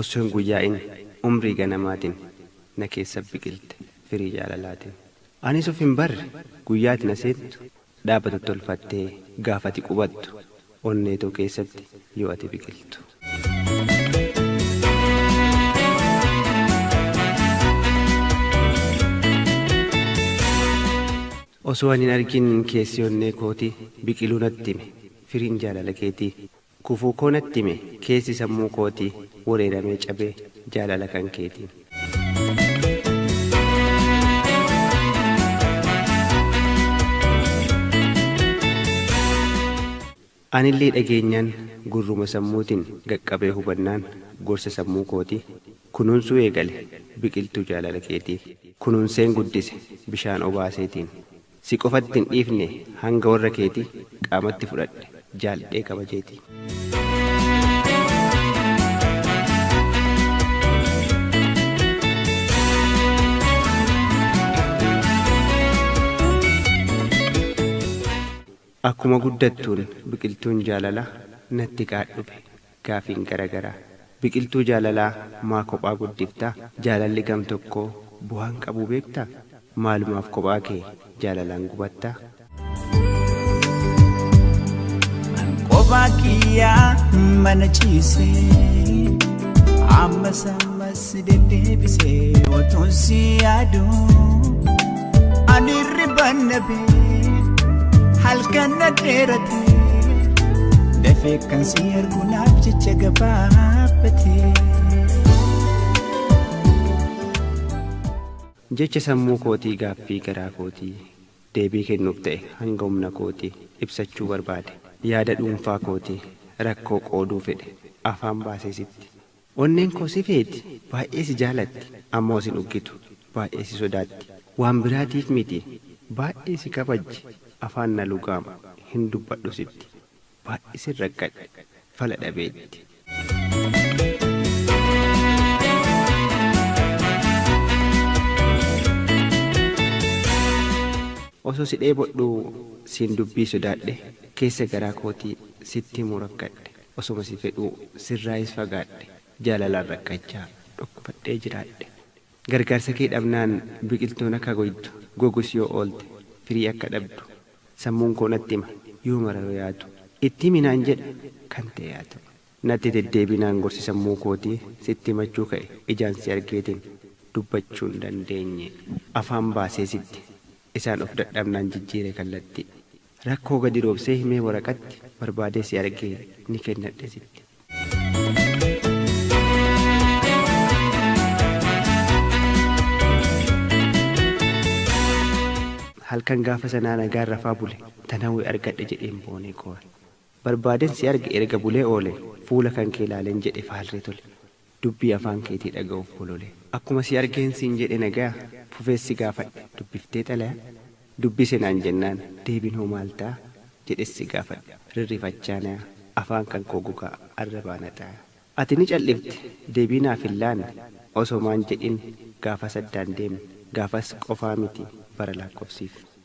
Osso hin guyyaa'in umrii ganamaatin na keessa biqilte firii jaalalaatin. Anis of hin barre guyyaa ati na seentu dhaabatu tolfattee gaafa ati qubattu onnee too keessatti yoo ati biqiltu. Osoo ani hin argin keessi onnee kooti biqiluu natti hime firiin jaalala keetii. Gufuu koo natti hime keessi sammuu kootii Wereeramee cabe jaalala kan keetiin. Anillee dhageenyaan gurruma sammuutiin Qaqqabee hubannaan gorsa sammuu kootii Kunuunsuu eegale biqiltuu jaalala keetii Kunuunseen guddise bishaan obaaseetiin. Si qofatti hin dhiifne hanga warra keeti qaamatti fudhadhe jaaldhee kabajeeti. Akkuma guddattuun biqiltuun jaalala natti qaadhufe Gaafiin gara garaa. Biqiltuu jaalalaa maa kophaa guddifta? Jaalalli gam tokkoo bu'aan qabuu beekta? Maalumaaf kophaa kee jaalalaan gubatta? An kophaa kiyyaa mana ciisee ammas ammas. Si deddeebisee otuun si yaadu ani hirribaan dhabee halkan na dheerate dafee kan si ergu naaf jecha gabaabate. Jecha sammuu kootii gaaffii garaa kootii deebii kennuuf ta'e hanga humna kootii ibsachuu barbaade yaada dhuunfaa kootii rakkoo qooduu fedhe afaan baasee sitti Onneen koo si feeti, baay'ee si jaalatti, ammoo sin uggitu, baay'ee si sodaatti, waan biraatiif miti, baay'ee si kabajji, afaan na lugaama, hin dubbadhu sitti, baay'ee sin rakkadhe, fala dhabeetti. Osoo si dheebodhuu siin dubbii sodaadhe, keessa garaa kootii sitti himuu rakkadhe. Osoma si fedhuu sirraayis fagaadhe jaalalaan rakkachaa dhukkubadhee jiraadhe Gargaarsa kee dhabnaan biqiltuun akka goytu gogus yoo oolte firii akka dhabdu Sammuun koo natti hima yoo mara yoo yaatu Itti himi naan jedha kan ta'e haa ta'u Natti deddeebi naan gorsi sammuu kootii Sitti himachuu ka'e ijaan si argeetiin Dubbachuu hin dandeenye afaan baasee sitti Isaan of dadhabnaan jijjiire kallattii. Rakkoo gadi roobsee himee waraqatti barbaadee si argee ni kennadhe sitti. Halkan gaafa sanaa nagaan rafaa bule tan hawwe argadhe jedheen boonee koore. Barbaaden si arge erga bulee oole fuula kankee laaleen jedhe faalree tole. Dubbii afaan keetii dhaga'uuf bolole. Akkuma si argeen siin jedhe nagaya? Fufees si gaafadhe, dubbiftee xalaya? Dubbise naan jennaan, deebiin hoo maal ta'a? Jedhes si gaafadhe, rirrifachaa naya? Afaan kan koo gogaa, arrabaa na xaaya. Ati ni cal'ifte, deebii naaf hin laanne, osomaan jedhin gaafas addaan deemne, gaafas qofaa miti bara laakkofsiifne.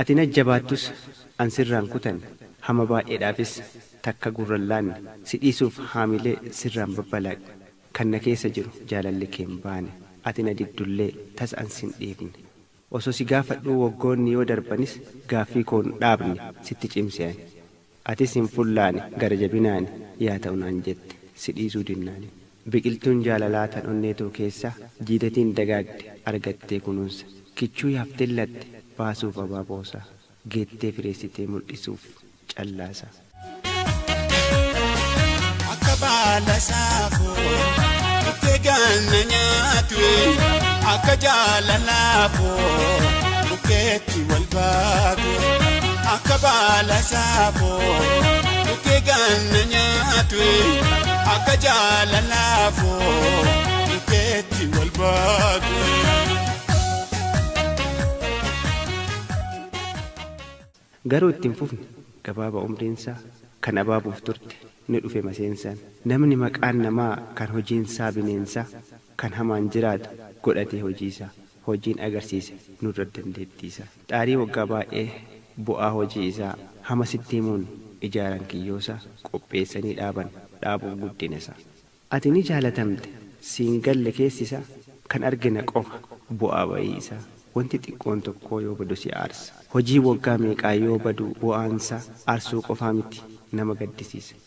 Ati na jabaattus an sirraan kutan hama baay'eedhaafis takka gurran laanne si dhiisuuf haamilee sirraan babbalaaqne kan na keessa jiru jaalalli kee hin baane ati na diddullee tas an sin dhiifne osoo si gaafadhuu waggoonni yoo darbanis gaaffii koo hin dhaabne sitti cimse ani Atis hin fullaane gara jabinaani yaa ta'u naan jette si dhiisuu dinnaani Biqiltuun jaalalaa tan onnee too keessa jiidatiin dagaagde argattee kunuunsa Kichuu yaafteen latte baasuuf abaaboosa Geettee fireessitee muldhisuuf callaasa. Akka baala saafoo dhuftee ganna nyaatu Akka jaalalaa koo bukkee Ati wal baatu akka baala saafoo Dhukkee ganna nyaatu akka jaalalaafoo Dhukkeetti wal baatu. Garuu itti hin fufne gabaaba umriinsaa kan abaabuuf turte ni dhufe maseensaan Namni maqaan namaa kan hojiinsaa bineensaa kan hamaan jiraatu godhatee hojiisaa hojiin agarsiise nurra dandeettii isaa. Xaarii waggaa baay'ee bu'aa hojii isaa hama sitti himuun ijaaran kiyyoo isaa qopheessanii dhaaban dhaabuun guddina isaa. Ati ni jaalatamte siin galle keessi isaa kan argina qofa bu'aa ba'ii isaa wanti xiqqoon tokkoo yoo badu si aarsa. Hojiin waggaa meeqaa yoo badu bu'aan isaa aarsuu qofaa miti nama gaddisiisa.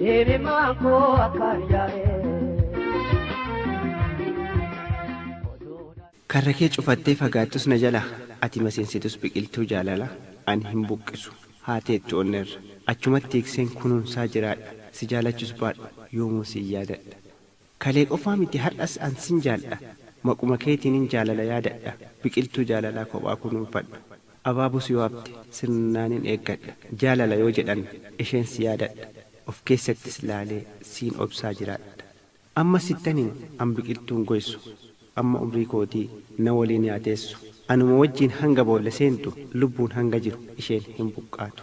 Hirimaan koo akkaan yaa'ee. Karra kee cufattee fagaattus na jalaa Ati maseensitus biqiltuu jaalalaa Ani hin buqqisu haa teettu onnerra Achumatti tiikseen kunuunsaa jiraadha Si jaalachus baadhu yoomuu sin yaadadha. Kalee qofaa miti har'as an sin jaaldha Maquma keetiinin jaalala yaadadha Biqiltuu jaalalaa kophaa kunuunfadha Abaaboo si waamte sirnaanin eeggadha Jaalala yoo jedhan isheen si yaadadha Of keessattis laalee siin obsaa jiraadha Amma sittan hima an biqiltuun goysu Amma umrii kootii na waliin yaa teessu Anuma wajjiin hanga boolla seentu Lubbuun hanga jiru isheen hin buqqaatu.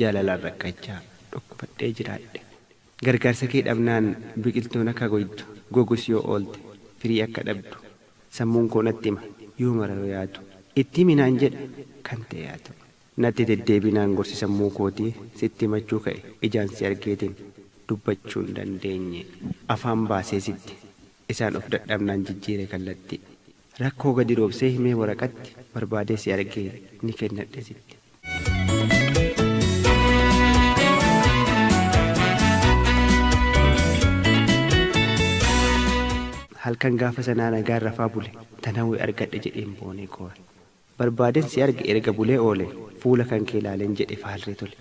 Jaalalaan rakkachaa, dhukkubadhee jiraadhe. Gargaarsa kee dhabnaan biqiltuun akka goytu, gogus yoo oolte, firii akka dhabdu. Sammuun koo natti hima, yoo mara yoo yaatu. Itti himi naan jedha, kan ta'e haa ta'u. Natti deddeebinaan gorsi sammuu kootii, sitti himachuu ka'e. Ijaan si argeetiin, dubbachuu hin dandeenye. Afaan baasee sitti, isaan of dadhabnaan jijjiire kallattii. Rakkoo gadi roobsee himee waraqatti barbaadee si argee ni kennadhe sitti. Halkan gaafa sanaa nagaan rafaa bule tan hawwe argadhe jedheen boonee koore. Barbaaden si arge erga bulee oole fuula kankee laaleen jedhe faalree tole.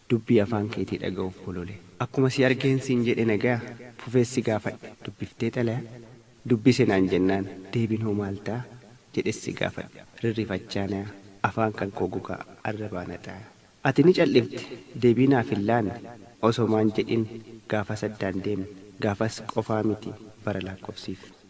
Dubbii afaan keetii dhaga'uuf bolole. Akkuma si argeen siin jedhe nagaya? Fufees si gaafadhe dubbiftee xalaya? Dubbise naan jennaan deebiin hoo maal ta'a? Jedhes si gaafadhe rirrifachaa naya? Afaan kan koo gogaa arrabaa na xaaya. Ati ni cal'ifte deebii naaf hin laanne Osomaan jedhin gaafas addaan deemne Gaafas qofaa miti bara laakkofsiifne.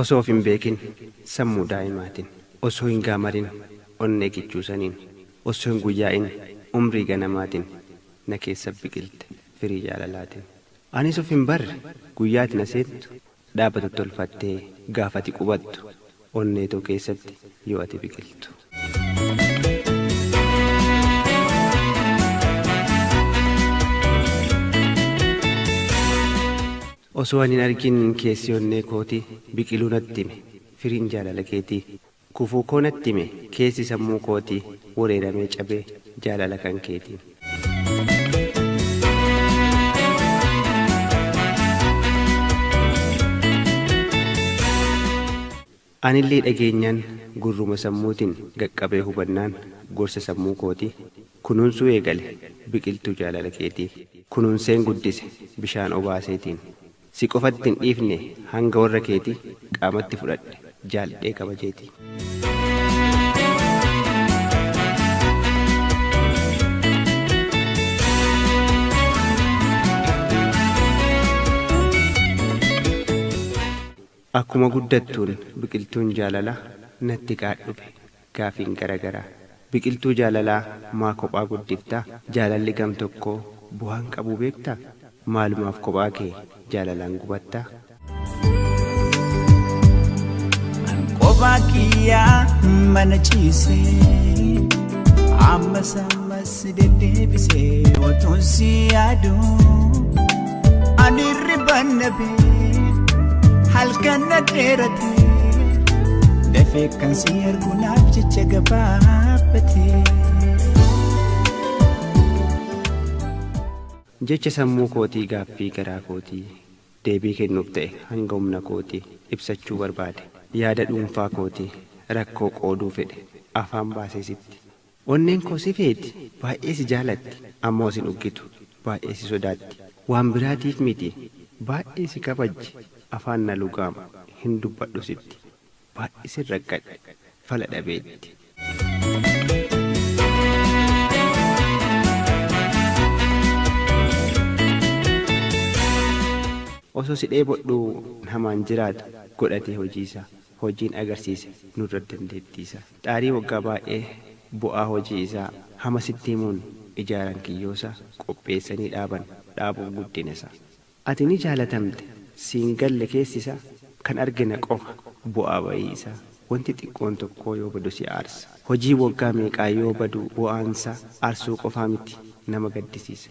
Osoo of hin beekin sammuu daa'imaatin, osoo hin gaamarin onnee kichuu saniin, osoo hin guyyaa'in umrii ganamaatin na keessa biqilte firii jaalalaatin. Anis of hin barre guyyaa ati na seentu dhaabbatu tolfattee gaafa ati qubattu onnee too keessatti yoo ati biqiltu. Osoo ani hin argin keessi onnee kooti biqiluu natti hime firiin jaalala keetii. Gufuu koo natti hime keessi sammuu kootii Wereeramee cabe jaalala kan keetiin. Anillee dhageenyaan gurruma sammuutiin Qaqqabee hubannaan gorsa sammuu kootii Kunuunsuu eegale biqiltuu jaalala keetii Kunuunseen guddise bishaan obaaseetiin. Si qofatti hin dhiifne hanga warra keeti qaamatti fudhadhe jaaldhee kabajeeti. Akkuma guddattuun biqiltuun jaalala natti qaadhufe. Gaafiin gara garaa. Biqiltuu jaalalaa maa kophaa guddifta? Jaalalli gam tokkoo bu'aan qabuu beekta? Maalumaaf kophaa kee jaalalaan gubatta? An kophaa kiyyaa mana ciisee ammas ammas. Si deddeebisee otuun si yaadu ani hirriban dhabee halkan na dheerate dafee kan si ergu naaf jecha gabaabate. Jecha sammuu kootii gaaffii garaa kootii deebii kennuuf ta'e hanga humna kootii ibsachuu barbaade yaada dhuunfaa kootii rakkoo qooduu fedhe afaan baasee sitti Onneen koo si feeti, baay'ee si jaalatti, ammoo sin uggitu, baay'ee si sodaatti, waan biraatiif miti, baay'ee si kabajji, afaan na lugaama, hin dubbadhu sitti, baay'ee sin rakkadhe, fala dhabeetti. Osoo si dheebodhuu namaan jiraatu, godhatee hojiisaa, hojiin agarsiise nurra dandeettiisaa. Dhaarii waggaa baay'ee bu'aa hojii isaa hama sitti himuun ijaaran kiyyoosa qopheessanii dhaaban dhaabuuf guddinasa ati ni jaalatamte siin galle keessisa kan argina qofa bu'aa ba'ii isaa wanti xiqqoon tokkoo yoo badu si aarsa hojii waggaa meeqaa yoo badu bu'aansa aarsuu qofaa miti nama gaddisiisa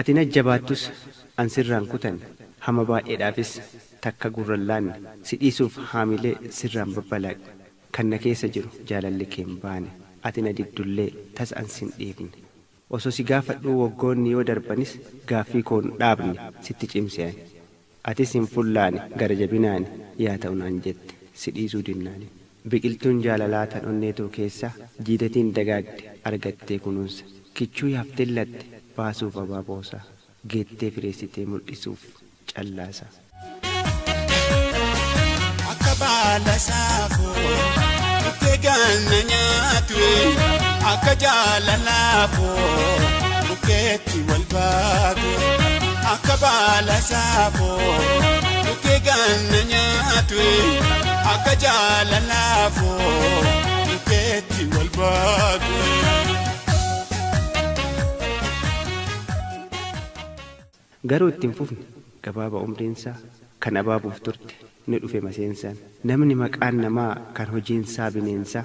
Ati na jabaattus an sirraan kutan hama baay'eedhaafis takka gurran laanne si dhiisuuf haamilee sirraan babbalaaqne kan na keessa jiru jaalalli kee hin baane ati na dibdullee tas an sin dhiifne osoo si gaafadhuu waggoonni yoo darbanis gaaffii koo hin dhaabne sitti cimse ani Atis hin fullaane gara jabinaani yaa ta'u naan jette si dhiisuu dinnaani Biqiltuun jaalalaa tan onnee too keessa jiidatiin dagaagde argattee kunuunsa Kichuu yaafteen latte baasuuf abaaboosa Geettee fireessitee muldhisuuf callaasa. Akka baala saafoo dhuftee ganna nyaatu Akka jaalalaa koo dhuftee. Ati wal baate akka baala saafoo dhukkee ganna nyaatu akka jaalalaafoo dhukkeetti wal baate. Garuu itti hin fufne gabaaba umriinsaa kan abaabuuf turte ni dhufe maseensaan. Namni maqaan namaa kan hojiinsaa bineensaa.